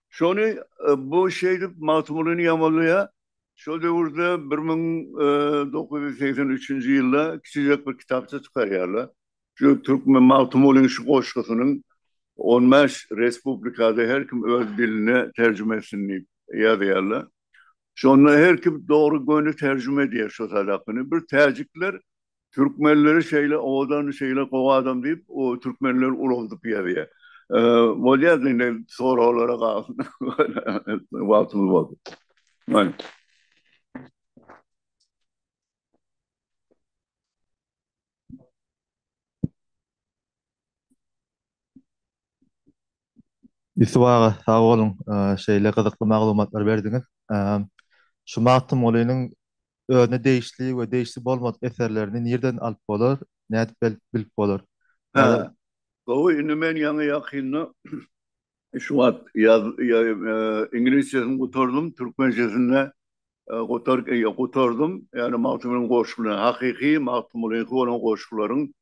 şony bu şeýdip Magtymgulyny ýamanlaýar. Şol döwürde bir müň dokuz ýüz segsen üçünji ýylda kiçijek bir kitapça çykarýarlar. Şu Türkmen Magtymgulyň şu goşgusynyň on bäş respublikada her kim öz diline terjime etsin diýip ýazýarlar. Şonda her kim dogry göni terjime edýär şu sadakyny. Bir täjikler türkmenleri şeýle owadan, şeýle gowy adam diýip, o türkmenleri ulaldyp ýazýar. Bolýar-da indi soraglara galsyn. Wagtymyz boldy. Aýt. Ýusup aga, sag boluň, şeýle gyzykly maglumatlary berdiňiz. Şu Magtymgulynyň özüne degişli we degişli bolmadyk eserlerini nirden alyp bolar, nädip bilip bolar? Gowy, indi men ýaňy-ýakynda Şu wagt ýaz ingilisçesini gutardym, türkmençesinde gutardym. Ýagny Magtymgulynyň goşgularyny, hakyky Magtymgulynyňky bolan goşgularyň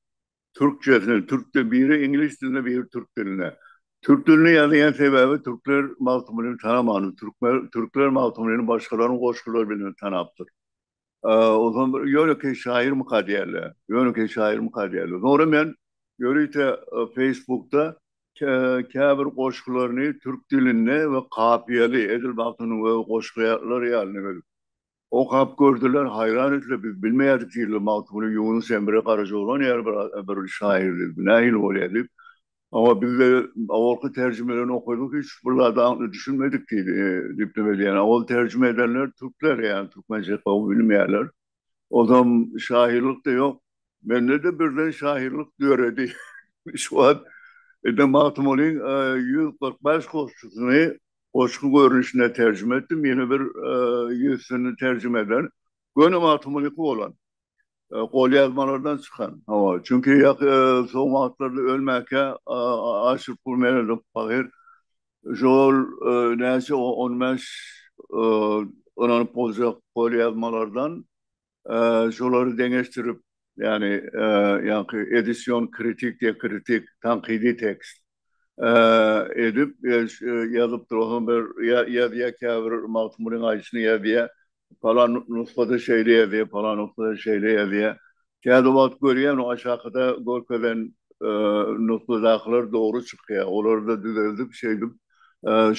türkçesini, türk dil, biri ingilis dilinde, biri türk dilinde. Türk dilinde ýazýan sebäbi türkler Magtymgulyny tanamany, türkler Magtymgulyny başgalaryň goşgulary bilen tanapdyr. Onsoň bir ýönekeý şaýyrmyka diýerler. Ýönekeý şaýyrmyka diýerler. Soňra men ýörite Facebookda käbir goşgularyny türk dilinde we kapiýaly, edil Magtymguly öz goşgulary ýaly gelip, okap gördüler, haýran etdiler, biz bilmeýärdik diýdiler, Magtymguly Ýunus Emre Garajaoglan ýaly bir şaýyrdy, bu nähili bolýar diýip, Oňa bizde owalky terjimelerini okadyk hiç bir zada aňyr düşünmedik diýdi. Diýip neme diýýän. Owal terjime edenler türkler ýa türkmençe gowy bilmeýärler. Ozam şahyrlykda ýok. Mende-de birden şahyrlyk döredi. Şu wagt edil Magtymgulyň ýüz kyrk bäş goşgusyny goşgy görnüşinde terjime etdim. Ýene bir ýüzsini terjime eder. Göni Magtymgulyky bolan. golýazmalardan çykan, hawa, çünki ýaky soň wagtlarda ölmäkä aşyr pul meredik pahyr, şo-ol näçe on bäş ynanyp boljak golýazmalardan şolary deňeşdirip, ýagny ýaňky edision kritik, diakritik, tankydy tekst edip ýazypdyr, onsoň bir ýazýar käbir Magtymgulyň aýdyşyny ýazýar, Palan nusgada şeýle ýazýar, palan nusgada şeýle ýazýar. Käbir wagt görýän aşakada görkezen nusgadakylar dogry çykýar. Olary da düzeldip şeýdip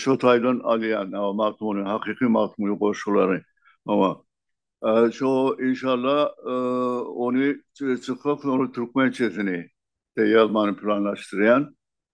şo taýdan alýan mazmuny, hakyky mazmuny goşgulary. Hawa. Şo inşalla ony çykyp soňra türkmençesini de ýazmany planlaşdyrýan.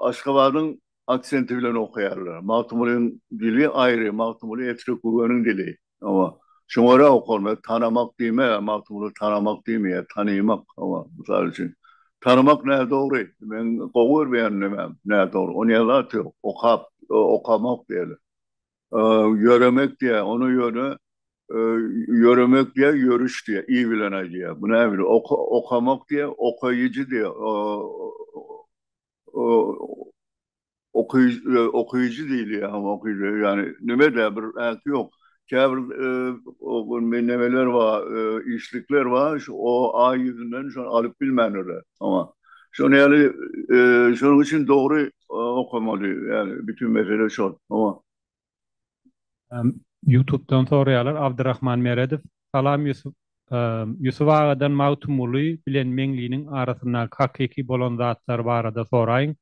Aşgabadyň aksenti bilen okaýarlar. Magtymgulyň dili aýry, Magtymguly Etrek-Gögeniň dili. Hawa. Şoňa görä okarlar. Tanamak diýme, Magtymguly tanamak diýmeýär, tanymak. Hawa, mysal üçin. Tanamak nädogry. Men gowy görmeýän nemäm, nädogry. Ony ýazan zat ýok. Okap, okamak diýerler. Ýöremek diýýär. Ony ýöne ýöremek diýýär, ýörüş diýýär. I bilen aýdýar. Bu näbili? Okamak diýýär, okaýjy diýýär. Okyjy diýilýär hem okyjy. Ýagny nime-de bir ähti ýok. Käbir nemeler bar, işlikler bar, şu o-a ýüzünden şony alyp bilmändirler. Oňa. Şony ýaly, şonuň üçin dogry okamaly, ýagny bütin mesele şol. Howa. Ýutubdan soraýarlar, Abdyrahman Meredow, Salam Ýusup, Ýusup agadan Magtymguly bilen Meňliniň arasyndaky hakyky bolan zatlar barada soraýyň,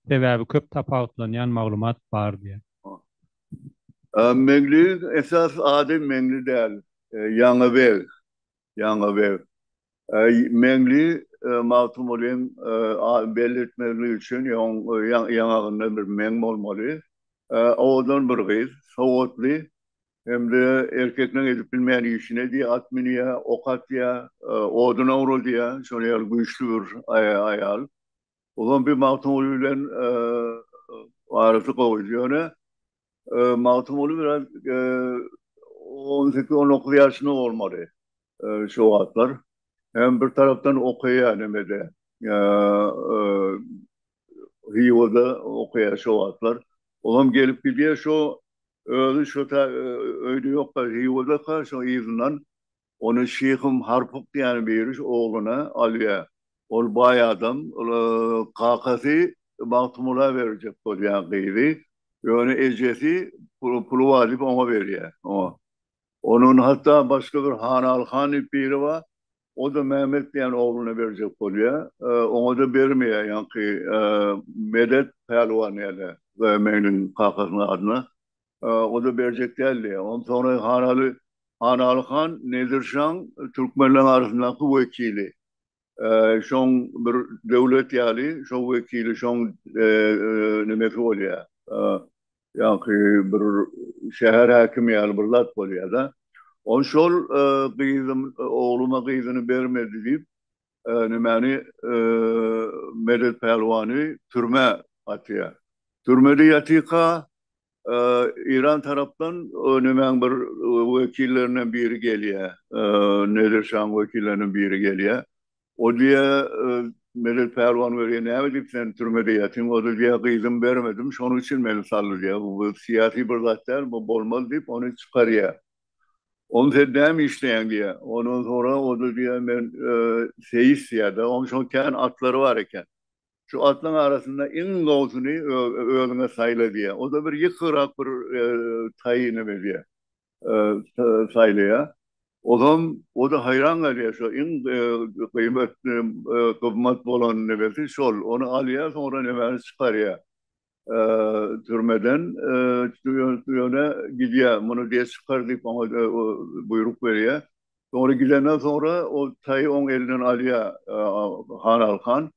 sebäbi köp tapawutlanýan maglumat bar diýýär. Meňliniň esasy ady Meňli däl, Ýaňy beg. ýaňy we Meňli Magtymgulyň belli etmezligi üçin oň ýaňagynda bir meň bolmaly. Owadan bir gyz, sowatly hem-de erkekleň edip bilmeýän işini edýär, at münýär, ok atýar, odun owradýar, şonuň ýaly güýçli bir aýal. Ozan bir Magtymguly bilen arasy gowydy. Ýöne Magtymguly biraz 18-19 ýaşynda bolmaly şu wagtlar. Hem bir tarapdan okaýar nemede. Hywoda okaýar şu wagtlar. Olam gelip gidýär şu özi şu ta öýde ýokka Hywoda ka şu yzyndan Ony Şyhym Harpyk diýen biri ogluna alýar. Ol baý adam. Kakasy Magtymgula berjek bolýar gyzy. Ýöne ejesi puly bar diýip oňa berýär. Onuň hatda başga bir Hanaly han diýip biri bar. O-da Mehmet diýen ogluna berjek bolýar. Oňa-da bermeýär. Ýaňky Medet pälwan ýa-da Meňliň kakasynyň adyna o-da berjek däldi. Onsoňra Hanaly Hanaly han Nedir şaň türkmenleriň arasyndaky wekili. Şoň bir döwlet ýaly şo wekili şoň nimesi bolýar. Ýaňky bir şäher häkimi ýaly bir zat bolýar-da. Ol şol gyzym ogluma gyzyny bermedi diýip, nämäni Medet Pälwany türmä atýar. Türmede ýatyka Eýran tarapdan nämäň bir wekillerinden biri gelýär. Nedir şaň wekillerinden biri gelýär. O diýýär Medet Pälwan welin näme diýip sen türmede ýatyň. O da diýýär gyzym bermedim şonuň üçin meni saldy diýýär. Bu syýasy bir zat däl bu bolmaz diýip ony çykarýar. Oň sen näme işleýäň diýýär. Ondan soňra o-da diýýär, men seýis diýýär-de. Oň şol kän atlary bar eken. Şu atlaryň arasynda iň gowusyny özüňe saýla diýýär. O-da bir ýykygrak bir taýy neme diýýär, saýlaýar. Ozam o-da haýran galýar, şo iň gyýmatly, gymmat bolan nemesi şol. Ony alýar, soňra nemäni çykarýar. türmeden türmä gidýär. Muny diýýär çykar diýip oňa buýruk berýär. Soňra gidenden soňra ol taýy oň elinden alýar Hanaly han.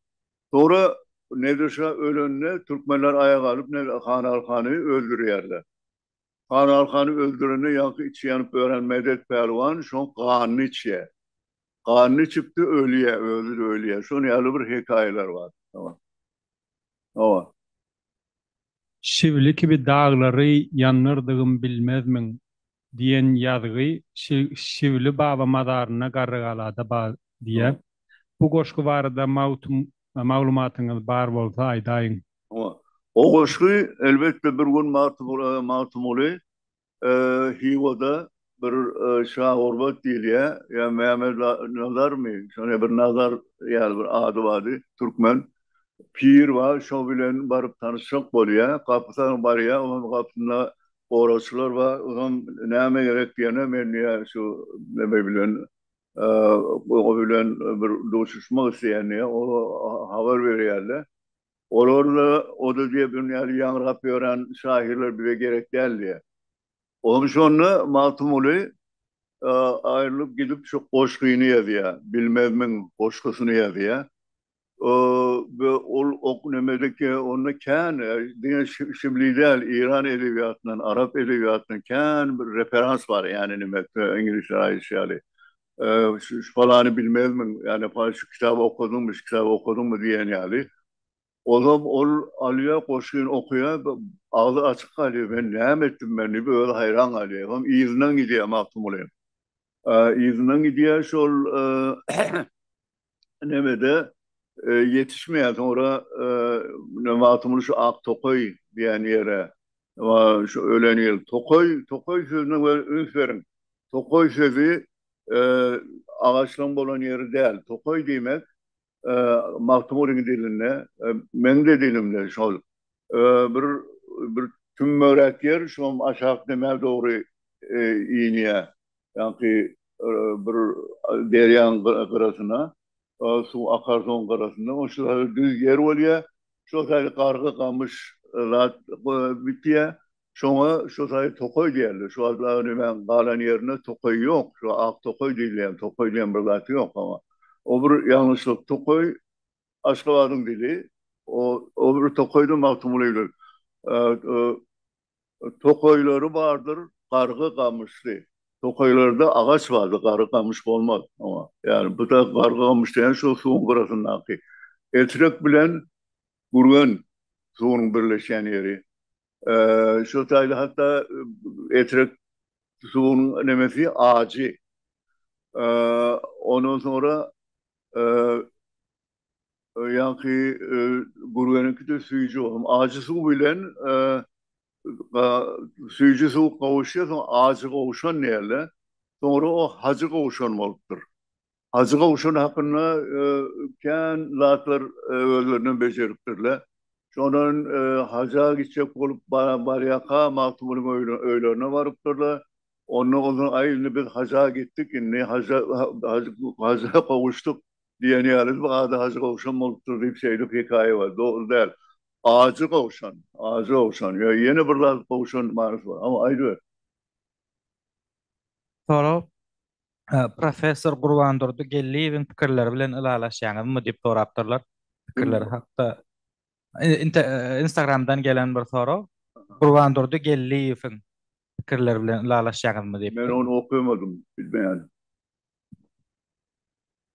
Soňra Nedir şa ölende türkmenler aýak alyp Hanaly hany öldürýärler. Hanaly hany öldürende ýaňky içi ýanyp ölen Medet pälwan şoň ganyny içýär. Ganyny içipdir ölýär, özi-de ölýär. Şon ýaly bir hekaýalar bar. Hawa. Şibli kibi daglary ýandyrdygym bilmezmiň diýen ýazgy Şibli baba mazaryna Garrygalada bar diýýär. Bu goşgy barada maglumatyňyz bar bolsa aýdaýyň. Hawa. O goşgy elbetde bir gün Magtymguly Hiwada bir Şa Gurbat diýilýär, ýa Mämmet Nazarmy, şonda bir Nazar ýaly bir ady bardy, türkmen pir bar, şo bilen baryp tanyşjak bolýar. Gapysa barýar, onuň gapysynda goragçylar bar, ozam näme gerek diýende, men diýýär, şu neme bilen, o bilen bir duşuşmak isleýän diýýär, olar habar berýärler. Olarda oda jebrim ýaly ýaňrap ýören şahyrlar bize gerek däldi. Olam şonda Magtymguly aýrylyp gidip şu goşgyny ýazýar, Bilmezmiň goşgusyny ýazýar. We ol ok nämediki, onda kän diňe şibli däl, Eýran edebiýatyndan, arap edebiýatyndan kän bir referans bar, ýagny neme, iňlisler aýdyşy ýaly. şu falany bilmezmiň, ýa-da falany şu kitaby okadyňmy, şu kitaby okadyňmy diýen ýaly. Ozam ol alýar, goşgyny okaýar, agzy açyk galýar, men näme etdim men diýip özi haýran galýar. Eýsem yzyndan gidýär Magtymguly. Yzyndan gidýär, şol nemede ýetişmeýär. Soňra ne wagtymyz şu ak tokaý diýen ýere şu ölen ýyl tokaý, tokaý sözüne bir üns beriň. Tokaý sözi agaçlaryň bolan ýeri däl. Tokaý diýmek Magtymgulynyň dilinde, meň-de dilimde şol. Bir bir tümmegräk ýer, şoňam aşak demä dogry inýär. ýaňky bir derýaň gyrasyna, suw akar soň gyrasynda ol şol hali düz ýer bolýar, şo saýy gargy gamyş zat bitýär, şoňa şo saýy tokaý diýerler, şu wagt Agdemäň galan ýerinde tokaý ýok, şu ak tokaý diýilýän, tokaý diýen bir zat ýok hawa, o bir ýalňyşlyk, tokaý Aşgabadyň dili, o bir tokaýda Magtymguly ölüp, Tokaýlary bardyr, gargy gamyşly. Tokaýlarda agaç bardyr, gargy gamyş bolmaz oňa. Ýagny bu-da gargy gamyş diýen şol suwuň gyrasyndaky. Etrek bilen Gürgen suwunyň birleşýän ýeri. Şol taýda hatda Etrek suwunyň nemesi ajy. Ondan soňra Ýaňky gürgeniňkide süýji bolsun. Ajy suw bilen süýji suw gowuşýar, soň ajy gowşan diýerler. Soňra o hajy gowşan bolupdyr. Hajy gowşan hakynda kän zatlar özlerinden bejeripdirler. Şondan haja gitjek bolup barýaka Magtymgulyň öýlerine barypdyrlar. Onda onsoň aý indi biz haja gitdik, indi haja gowuşdyk. Diýen ýaly bu ady Hajy Gowşan bolupdyr diýip şeýdip hekaýa bar. Dogry däl. Ajy Gowşan, Ajy Gowşan ýa ýene bir zat Gowşan manysy bar. Hawa, aýdyber. Sorag, Professor Gurbandurdy Geldiýewiň pikirleri bilen ylalaşýaňyzmy diýip sorapdyrlar. Pikirleri hakda Instagramdan gelen bir sorag. Gurbandurdy Geldiýewiň pikirleri bilen ylalaşýaňyzmy diýip. Men ony okamadym, bilmeýän.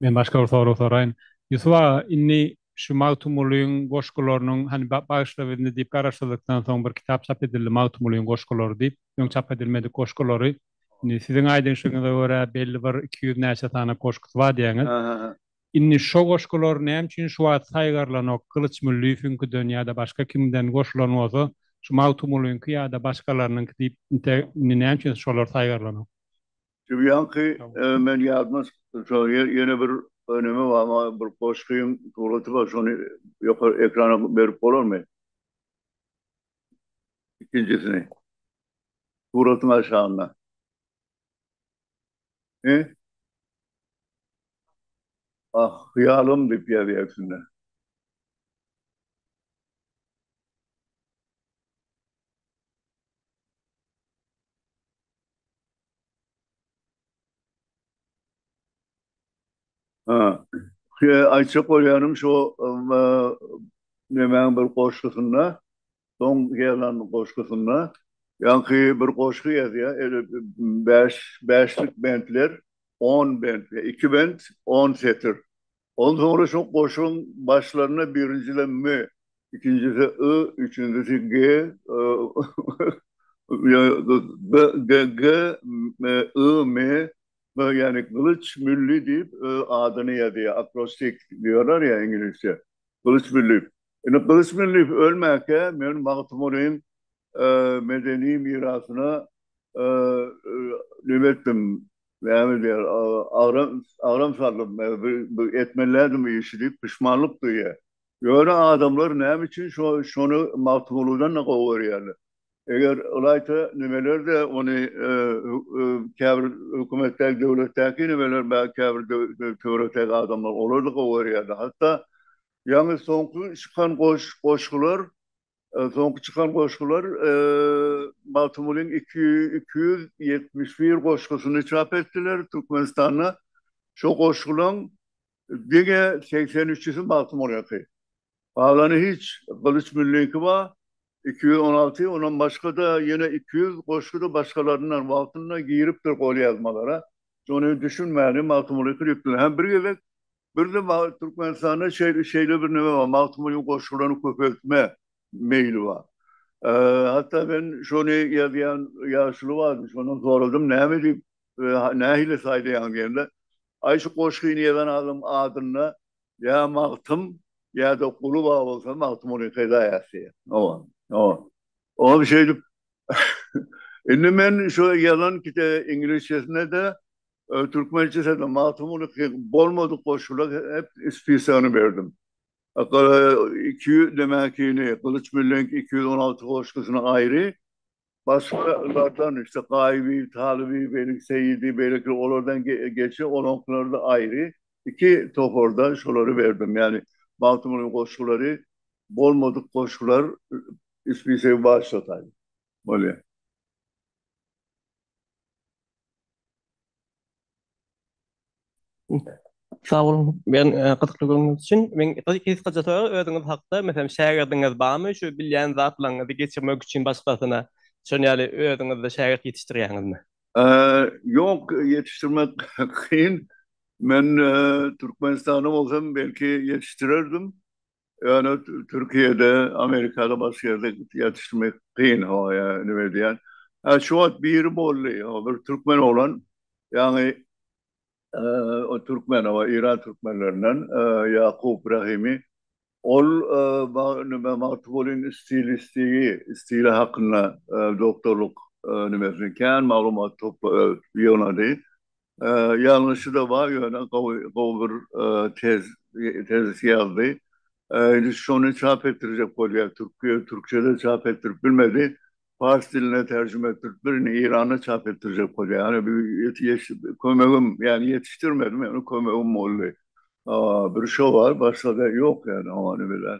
Men başga bir sorag soraýyn. Ýusup aga, indi şu Magtymgulyň goşgularynyň, hany Bagyşla bizni diýip garaşsyzlykdan soň bir kitap çap edildi, Magtymgulyň goşgulary diýip, öň çap edilmedik goşgulary. Indi siziň aýdyşyňyza görä, belli bir iki ýüz näçe sany goşgusy bar diýýäňiz. Indi şo goşgular näme üçin şu wagt saýgarylanok? Gylyç Mülliýewiňkiden ýa-da başga kimden goşulan bolsa, şu Magtymgulyňky ýa-da başgalarynyňky diýip, inte indi näme üçin şolar saýgarylanok? Şu ýaňky men ýadyma şol ýene bir önemi bar maňa bir goşgyň suraty bar şony ýokary ekrana berip bolarmy? Ikinjisini. Suratyň aşagynda. He? Ah, hyýalym diýip ýazýar üstünde. Ha. Şe aýtjak bolýanym şo nemäň bir goşgusynda, soň ýazan goşgusynda ýaňky bir goşgy ýazýar, eli bäş, bäşlik bentler, on bent, iki bent, on setir. Ondan soňra şu goşuň başlaryna birinjisi M, ikinjisi I, üçünjisi G, B, G, I, M, ýagny Gylyç Mülli diýip adyny ýazýar, akrostik diýýärler ýa iňlisçe, Gylyç Mülli. Indi Gylyç Mülli ölmäkä men Magtymgulyň medeni mirasyna nime etdim, Näme diýer, agram, agram saldyp, bir etmelidim bu işi diýip puşmanlyk duýýar. Ýöne adamlar näme üçin şo, şony Magtymgulydan-da gowy görýärler? Eger ylaýta nimeler-de ony käbir hökümetdäki, döwletdäki nimeler, belki käbir töwerekdäki adamlar olar-da gowy görýärdi. Hatda ýaňy soňky çykan goş, goşgular Soňky çykan goşgular Magtymgulyň iki ýüz ýetmiş bir goşgusyny çap etdiler Türkmenistanda. Şo goşgulaň diňe segsen üçüsi Magtymgulyňky. Galany hiç Gylyç Mülliňki bar, iki ýüz on alty, ondan başga-da ýene iki ýüz goşgy-da başgalaryndan wagtynda giripdir golýazmalara. Şony düşünmäni Magtymgulyňky diýipdirler. Hä, bir gezek Birde Mag Türkmenistanda şeý şeýle bir neme bar, Magtymgulynyň goşgularyny köpeltme meýli bar. Hatda men şony ýazýan ýaşuly bardy, şondan soradym, näme diýip, nähili saýlaýaň diýende, Aý, şu goşgyny ýazan adam adynda ýa Magtym, ýa-da Guly bar bolsa, Magtymguly peýda ýassy. Hawa, hawa. Oňa şeýdip, indi men şu ýazan kite iňlisçesine-de Türkmençesede Magtymguly Pyragy bolmadyk goşgular hep spisagyny berdim. Iki ýüz demäkini, Gylyç Müllüň iki ýüz on alty goşgusyny aýry, başgalardan, işte, Gaýybibi, Talybibi, Seýidi, beýlekiler, olardan geçe olaňkylary-da aýry, iki toparda şolary berdim. Ýagny Magtymgulyň goşgulary bolmadyk goşgular spisagy başlataýyn. Bolýar. Sag boluň, men gyzykly gürrüňiz üçin. Men gysgaça sorag özüňiz hakda, meselem, şägirdiňiz barmy, şu bilýän zatlaryňyzy geçirmek üçin başgasyna, şonuň ýaly özüňiz-de şägirt ýetişdirýäňizmi? Ýok, ýetişdirmek kyn. Men Türkmenistanda bolsam, belki ýetişdirerdim. Ýöne Türkiýede, Amerikada başga ýerde ýetişdirmek kyn ho ýa nime edýän. Hä şu wagt biri boldy ho bir türkmen oglan ýagny o türkmen o Iran türkmenlerinden Ýakup Rahimi ol nime Magtybulin stilistigi stili hakynda doktorlyk nimesini kän maglumat topla ýygnady. Ýalňyşy-da bar, ýöne gowy, gowy bir tez, tezis ýazdy. Indi şony çap etdirjek bolýar. Türkiýe türkçede çap etdirip bilmedi. Pars diline terjime etdirip, birini Eýranda çap etdirjek bolýar. Ýöne bu kömegim, ýagny ýetişdirmedim, ýöne kömegim boldy. Bir şo bar, başga-da ýok ýa-da hany biler.